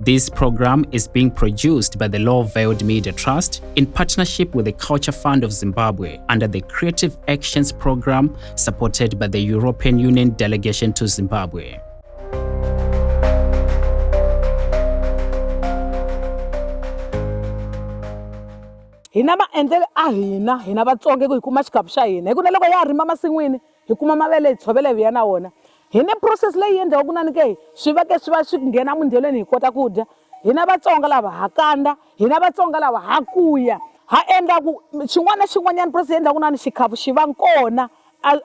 This program is being produced by the Law Veiled Media Trust in partnership with the Culture Fund of Zimbabwe under the Creative Actions Program supported by the European Union Delegation to Zimbabwe. hina maendlelo a hina hina vatsonga ku hi kuma xikapu xa hina hi ku na loko ya ha rima masin'wini hi kuma mavele hi tshovela hi vuya na wona hi ne process leyi endliwa ku nani ke swi va ke swi va swi nghena mundyelweni hi kota ku dya hina vatsonga lava ha kanda hina vatsonga lava ha kuya ha endla ku xin'wana na xin'wanyana process endla ku nani xikhafu xi va kona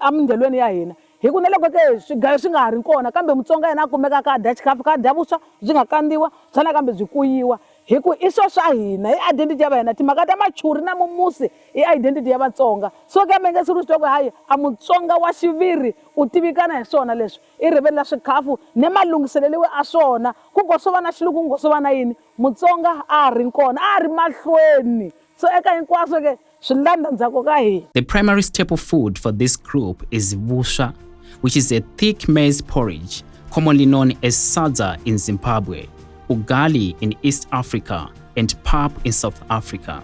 emindyelweni ya hina hi ku na loko ke swigayo swi nga ha ri kona kambe mutsonga yena a kumeka ka dya xikhafu ka dya vuswa byi nga kandziwa bya nakambe byi kuyiwa hi ku i swo swa hina i identity ya va hina timhaka ta machuri na mumusi I identity ya Vatsonga. So kambe nge siku sitwa ku hayi a Mutsonga wa xiviri u tivikana hi swona leswi. I rivele la swikhafu ne malunghiseleliwe a swona. Ku ngo swova na xiluku ku ngo swova na yini, Mutsonga a a ri nkona, a a ri mahlweni. So eka hinkwaswo ke swi landza ndzhaku ka hina. The primary staple food for this group is vuswa, which is a thick maize porridge commonly known as sadza in Zimbabwe, ugali in East Africa, and pap in South Africa.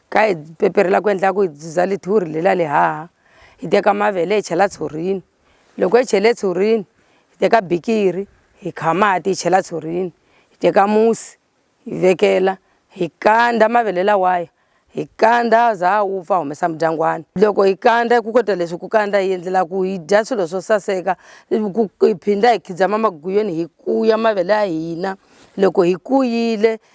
Kha hi peperhela ku endla ku hi dzuza lithuri le la lihaha hi teka mavele hi chela tshurini loko hi chele tshurini hi teka bikiri hi kha mati hi chela tshurini hi teka musi hi vekela hi kandza mavele lawaya hi kandza za wu pfa humesa mudyangwana loko hi kandza ku kota leswi ku kandza hi endlela ku hi dya swilo swo saseka ku hi phinda hi khidzama maguyeni hi kuya mavele ya hina loko hi kuyile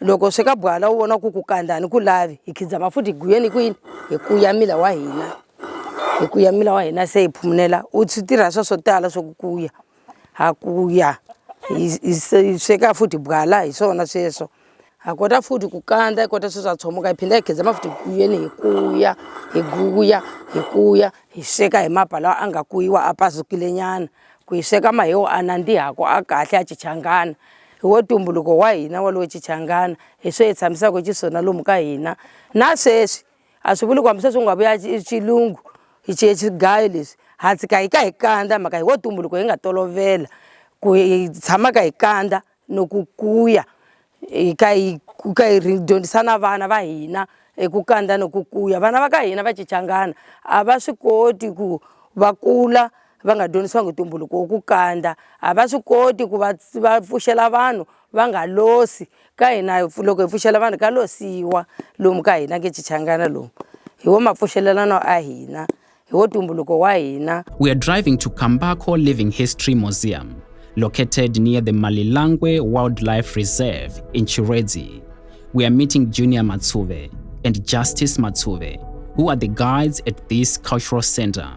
loko sweka bwala u vona ku ku kandani ku lavi hi khidzama futhi hi guyeni kwini hi ku ya mila wa hina hi ku ya mila wa hina se hi phumunela u swi tirha swa swo tala swa ku kuya ha kuya hi sweka futhi bwala hi swona sweswo ha kota futhi ku kandza hi kota sweswo ha tshomuka hi phinda hi khidzama futhi guyeni hi kuya hi guya hi kuya hi sweka hi mapa lawa a nga kuyiwa a pazukilenyana ku hi sweka mahewu a nandzihako a kahle a chichangana hi wo tumbuluko wa hina wa lowo chichangana hi swo hi tshamisaka xiswona lomu ka hina na sweswi a swi vuli ku hambi sweswi u nga vuya xilungu hi chiye xigayo leswi ha tshika hi ka hi kandza mhaka hi wo tumbuluko hi nga tolovela ku hi tshamaka hi kandza no ku kuya hi ka hi ku ka hi dyondzisa na vana va hina hi ku kandza no ku kuya vana va ka hina va chichangana a va swi koti ku va kula va nga dyondzisiwangi ntumbuluko wo ku kandza a va swi koti ku va va pfuxela vanhu va nga losi ka hina loko hi pfuxela vanhu ka losiwa lomu ka hina ke chichangana lomu hi wo mapfuxelelano a hina hi wo ntumbuluko wa hina we are driving to kambako living history museum located near the malilangwe wildlife reserve in chiredzi we are meeting junior matsuve and justice matsuve who are the guides at this cultural center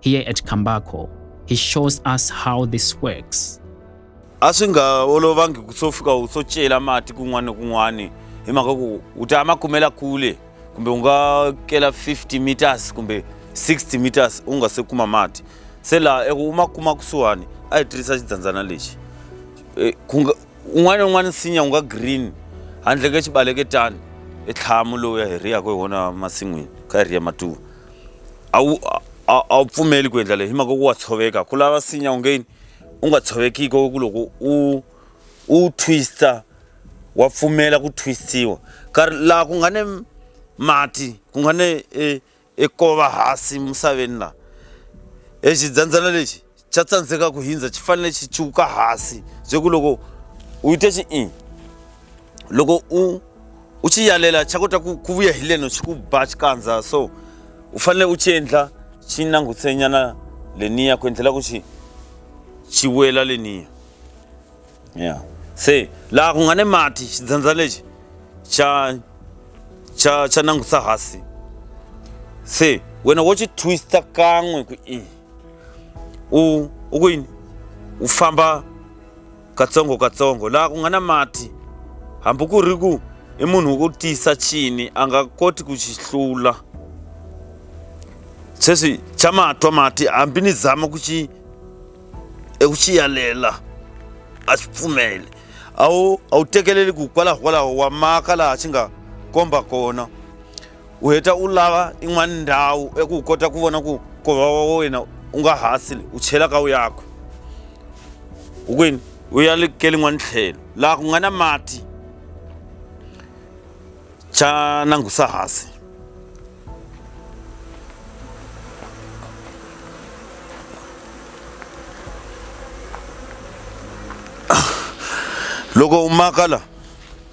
Here at Kambako, he shows us how this works. a swi nga olovangi ku swo fika u swo cela mati kun'wana ni kun'wana hi mhaka ku u ta ma kumela kule kumbe u nga kela 50 meters kumbe 60 meters u nga se kuma mati se laha eku u ma kuma kusuhani a hi tirhisa xidyandzana lexi Eh, ku nga- un'wana na un'wana nsinya u nga green handle ka xibaleketani i tlhamu lowu ya hi riyaka hi wona masin'wini kha hi riya matuva a wu a wu pfumeli ku endla leyi hi mhaka ku wa tshoveka ku lava sinya ungeni u nga tshovekiko ku loko u u twista wa pfumela ku twistiwa ka laha ku nga ne mati ku nga ne e, e kova hasi misaveni laha exidyandzana lexi cha tsandzeka ku hindza chi fanele xi chuka hasi bye ku loko u yite xi i loko u u xi yalela xa kota ku ku vuya hi leno xi ku ba xikandza so u fanele u xi endla xi nangutsenyana leniya ku endlela ku xi xi wela leniya ya se laha ku nga ni mati xidzandza lexi xa xa xa nangutsa hasi se wena wo xi twista kan'we ku i u u ku yini u famba katsongo katsongo laha ku nga na mati hambi ku ri ku i munhu wo tiyisa chini a nga koti ku xi hlula sweswi xa matwa mati hambi ni zama ku xi eku xi yalela a swi pfumeli a wu a wu tekeleli ku kwalaho kwalaho wa maka laha xi nga komba kona u heta u lava in'wana ndhawu eku u kota ku vona ku kova wa wena u nga hasili u chela ka u yakwe u kwini u ya likeli n'wana tlhelo laha ku nga na mati xa nangusa hasi loko u maka la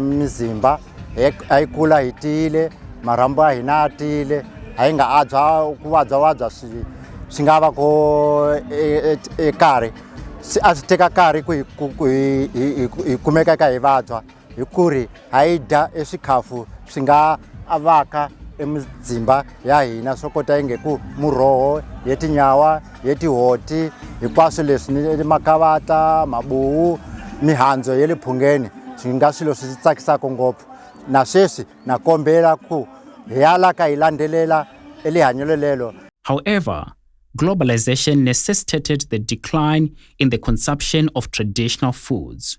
mizimba a yi kula hi tiyile marhambu a hina a tiyile a yi nga abya ku vabyavabya swi swi nga va ko karhi se a swi teka nkarhi ku hi ku- ku hi- hi- hi ku- hi kumeka ka hi vabya hi ku ri ha yi dya eswikhafu swi nga avaka emizimba ya hina swo kota inge ku muroho ye tinyawa hi tihoti hinkwaswo leswi ni makavata mabuwu mihandzu ya le phungeni swi nga swilo swi tsakisaka ngopfu na sweswi na kombela ku hi ya la ka hi landzelela elihanyelo lelo However, globalization necessitated the decline in the consumption of traditional foods.